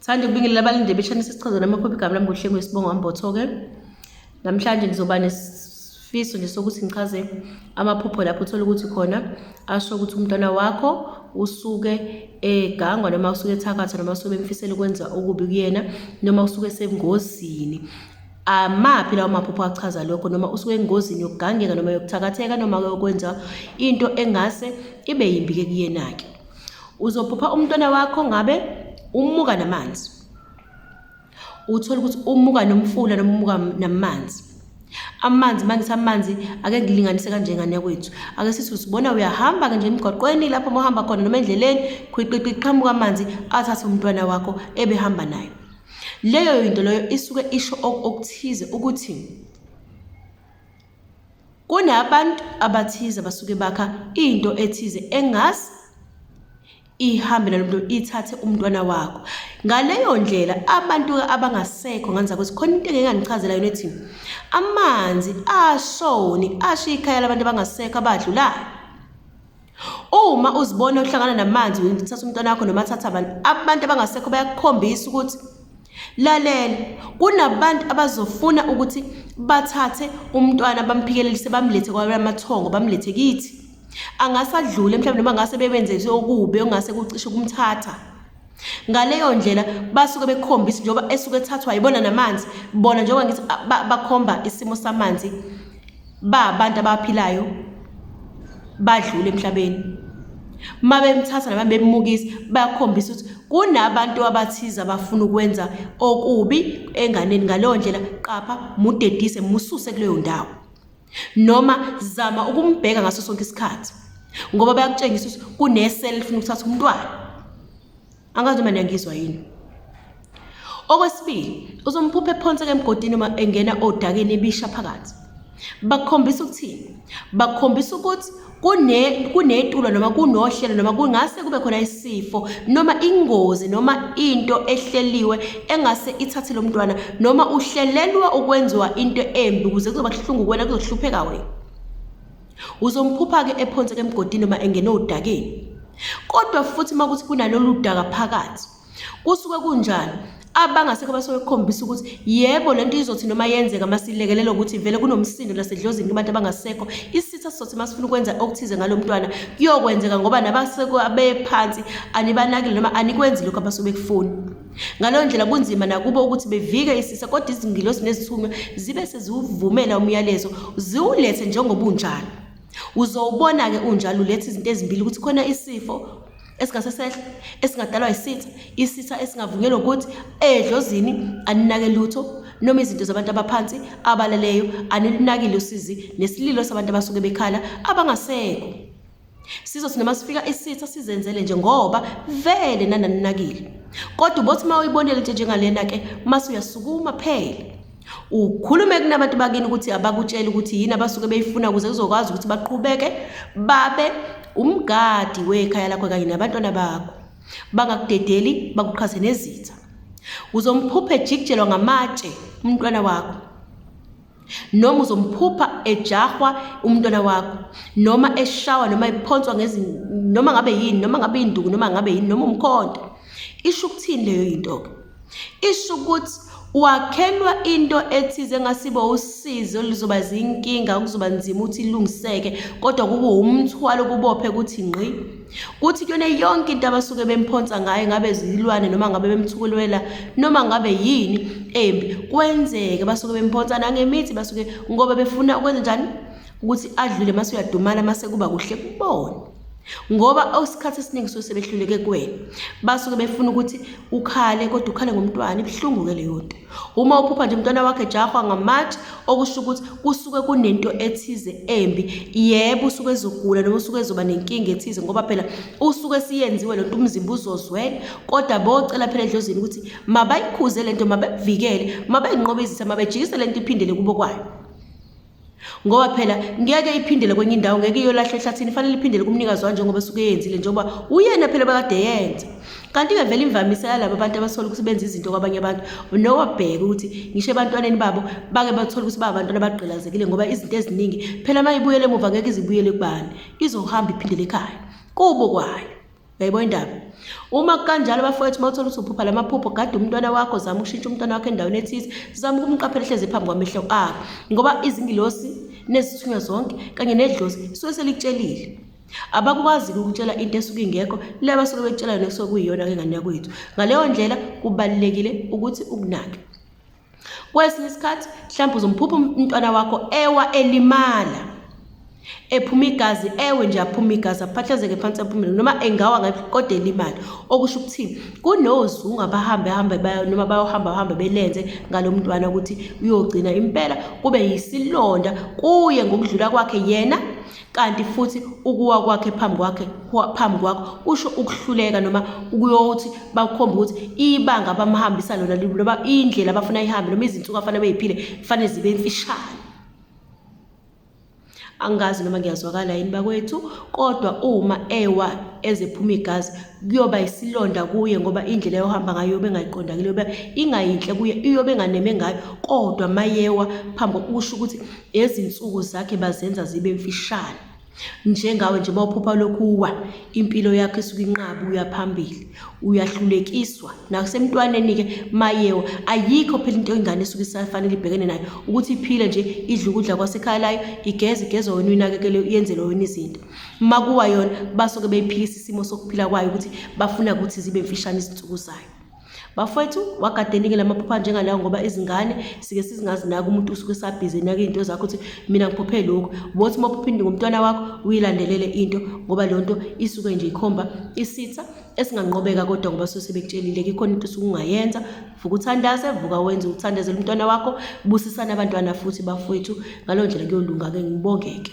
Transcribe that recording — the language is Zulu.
Sithanda ukubingelela abalinde beshanisa isichaza nami okhupha igama lami ngohlengwe isibongo ambotho-ke. Namhlanje ngizoba nesifiso nje sokuthi ngichaze amaphupho lapho uthole ukuthi khona asho ukuthi umntwana wakho usuke egangwa noma usuke ethakatha noma usuke bemfisela ukwenza okubi kuyena noma usuke esengozini amaphi lawo maphupho achaza lokho noma usuke engozini yokugangeka noma yokuthakatheka noma yokwenza into engase ibe yimbi-ke kuyena-ke uzophupha umntwana wakho ngabe umuka namanzi uthole ukuthi umuka nomfula noma umuka namanzi amanzi mangisa amanzi ake ngilinganise kanje ngane yakwethu ake sithi usibona uyahamba ke nje emgwaqweni lapho uma uhamba khona noma endleleni khwiqiqi qhamuka amanzi athathe umntwana wakho ebehamba naye leyo yinto leyo isuke isho okuthize ukuthi Kunabantu abathize abasuke bakha into ethize engazi ihambe nalo mntu ithathe umntwana wakho. Ngaleyo ndlela abantu abangasekho nganza ukuthi khona into engeke ngangichazela yona ethi amanzi ashoni asho ikhaya labantu abangasekho abadlulayo. Uma uzibona uhlangana namanzi uthatha umntwana wakho noma thatha abantu abantu abangasekho bayakukhombisa ukuthi lalela kunabantu abazofuna ukuthi bathathe umntwana bamphikelelise bamlethe kwamathongo bamlethe kithi angasadlule mhlawumbe noma ngase bebenze okubi ongase kucishe kumthatha ngaleyo ndlela basuke bekhombisa njengoba esuke ethathwa yibona namanzi bona njengoba ngithi bakhomba isimo samanzi ba abantu abaphilayo badlule emhlabeni uma bemthatha noma bemmukisa bayakhombisa ukuthi kunabantu abathize abafuna ukwenza okubi enganeni ngaleyo ndlela qapha mudedise mususe kuleyo ndawo noma zama ukumbheka ngaso sonke isikhathi ngoba bayakutshengisa ukuthi kunesele lifuna ukuthatha umntwana angazi noma niyangizwa yini okwesibili uzomphupha ephonseka emgodini uma engena odakeni ebisha phakathi bakhombisa ukuthini bakhombisa ukuthi kune kunetulo noma kunohlelo noma kungase kube khona isifo noma ingozi noma into ehleliwe engase ithathe lo mntwana noma uhlelelwa ukwenziwa into embi ukuze kuzoba kuhlungu kuwena kuzohlupheka wena uzomphupha-ke ephonseka emgodini noma engene odakeni kodwa futhi uma kuthi kunalolu daka phakathi kusuke kunjani abangasekho basuke kukhombisa ukuthi yebo lento izothi noma yenzeka masilekelela ukuthi vele kunomsindo lasedlozini kubantu abangasekho isitha sizothi masifuna ukwenza okuthize ngalo mntwana kuyokwenzeka ngoba nabaseko abephansi anibanakile noma anikwenzi lokho abasuke kufuni ngaleyo ndlela kunzima nakubo ukuthi bevike isisa kodwa izingilosi nezithunywa zibe seziwuvumela umyalezo ziwulethe njengobunjalo uzowubona-ke unjalo ulethe izinto ezimbili ukuthi khona isifo esingase sehle esingadalwa yisitha isitha esingavunyelwa ukuthi edlozini aninake lutho noma izinto zabantu abaphansi abaleleyo anilinakile usizi nesililo sabantu abasuke bekhala abangasekho sizothi noma sifika isitha sizenzele nje ngoba vele nananinakile kodwa ubothi uma uyibonele nje njengalena-ke mase uyasukuma phela ukhulume kunabantu bakini ukuthi abakutshele ukuthi yini abasuke beyifuna ukuze kuzokwazi ukuthi baqhubeke babe umgadi wekhaya lakho kanye nabantwana bakho bangakudedeli bakuqhase nezitha uzomphupha ejikijelwa ngamatshe umntwana wakho noma uzomphupha ejahwa umntwana wakho noma eshawa noma ephonswa noma ngabe yini noma ngabe induku noma ngabe yini noma umkhonto isho ukuthini leyo yinto-ke isho ukuthi wakhelwa into ethize engasibo usizo lizoba zinkinga kuzoba nzima ukuthi ilungiseke kodwa kube umthwalo kubophe ukuthi ngqi kuthi kuyona yonke into abasuke bemphonsa ngayo ngabe zilwane noma ngabe bemthukulwela noma ngabe yini embi kwenzeke basuke bemphonsa nangemithi basuke ngoba befuna ukwenza njani ukuthi adlule mase uyadumala mase kuba kuhle kubona ngoba isikhathi esiningi suke sebehluleke kuwena basuke befuna ukuthi ukhale kodwa ukhale ngomntwana ibuhlungu-ke leyo nto uma uphupha nje umntwana wakhe ejahwa ngamatshe okusho ukuthi kusuke kunento ethize embi yebo usuke ezogula noma usuke ezoba nenkinga ethize ngoba phela usuke siyenziwe le nto umzimba uzozwela kodwa bocela phela edlozini ukuthi mabayikhuze le nto mabevikele mabayinqobezise mabejikise le nto iphindele kubo kwayo ngoba phela ngeke iphindele kwenye indawo ngeke iyolahlwa ehlathini fanele iphindele kumnikazi wayo njengoba esuke eyenzile njengoba uyena phela bakade yenza kanti-ke vele imvamisa yalabo abantu abasola ukuthi benza izinto kwabanye abantu nowabheke ukuthi ngisho ebantwaneni babo bake bathole ukuthi babantwana abagqilazekile ngoba izinto eziningi phela uma ibuyele emuva ngeke izibuyele kubani izohamba iphindele ekhaya kubo kwayo Uyayibona indaba? Uma kanjalo bafowethu mawuthola ukuthi uphupha lamaphupho gade umntwana wakho zama ukushintsha umntwana wakho endaweni ethize zama ukumqaphela ehlezi phambi kwamehlo akho ngoba izingilosi nezithunywa zonke kanye nedlozi isuke selikutshelile abakwazi ukutshela into esuke ingekho le basuke bekutshela nekusokuyiyona ke ngane yakwethu ngaleyo ndlela kubalekile ukuthi ukunake kwesinye isikhathi mhlawumbe uzomphupha umntwana wakho ewa elimala ephuma igazi ewe nje aphuma igazi aphahlazeke phansi aphumele noma engawa ngabe kodwa elimali okusho ukuthi kunozungu abahambe hambe noma bayohamba hambe belenze ngalo mntwana ukuthi uyogcina impela kube yisilonda kuye ngokudlula kwakhe yena kanti futhi ukuwa kwakhe phambi kwakhe phambi kwakho kusho ukuhluleka noma ukuyothi bakukhomba ukuthi ibanga abamhambisa lona noma indlela abafuna ihambe noma izinsuku afanele beyiphile kufanele zibe mfishane angazi noma ngiyazwakala yini bakwethu kodwa uma ewa ezephuma igazi kuyoba isilonda kuye ngoba indlela yohamba ngayo yobe engayiqondakile yobe ingayinhle kuye iyobe enganeme ngayo kodwa mayewa phambi kokusho ukuthi Ezinsuku zakhe bazenza zibe mfishane. Njengawe nje bawuphupha lokhu uwa impilo yakho isuke inqaba uya phambili uyahlulekiswa nasemntwaneni-ke mayewa ayikho phela into ingane esuke isafanele ibhekene nayo ukuthi iphile nje idle ukudla kwasekhaya layo igeze igezwa wena uyinakekele yenzele wena izinto uma kuwa yona basuke beyiphikisa isimo sokuphila kwayo ukuthi bafuna ukuthi zibe mfishane izinsuku zayo Bafowethu wagadeningi lamaphupha njengalawo ngoba izingane sike sizingazinaki umuntu usuke esabhizi enaka izinto zakho ukuthi mina ngiphuphe lokhu bothi uma uphupha into ngomntwana wakho uyilandelele into ngoba leyo nto isuke nje ikhomba isitha esinganqobeka kodwa ngoba suke sebekutshelile ikhona into usuke ungayenza vuka uthandaze vuka wenze uthandazele umntwana wakho busisana abantwana futhi bafowethu ngaloo ndlela kuyolunga-ke ngibongeke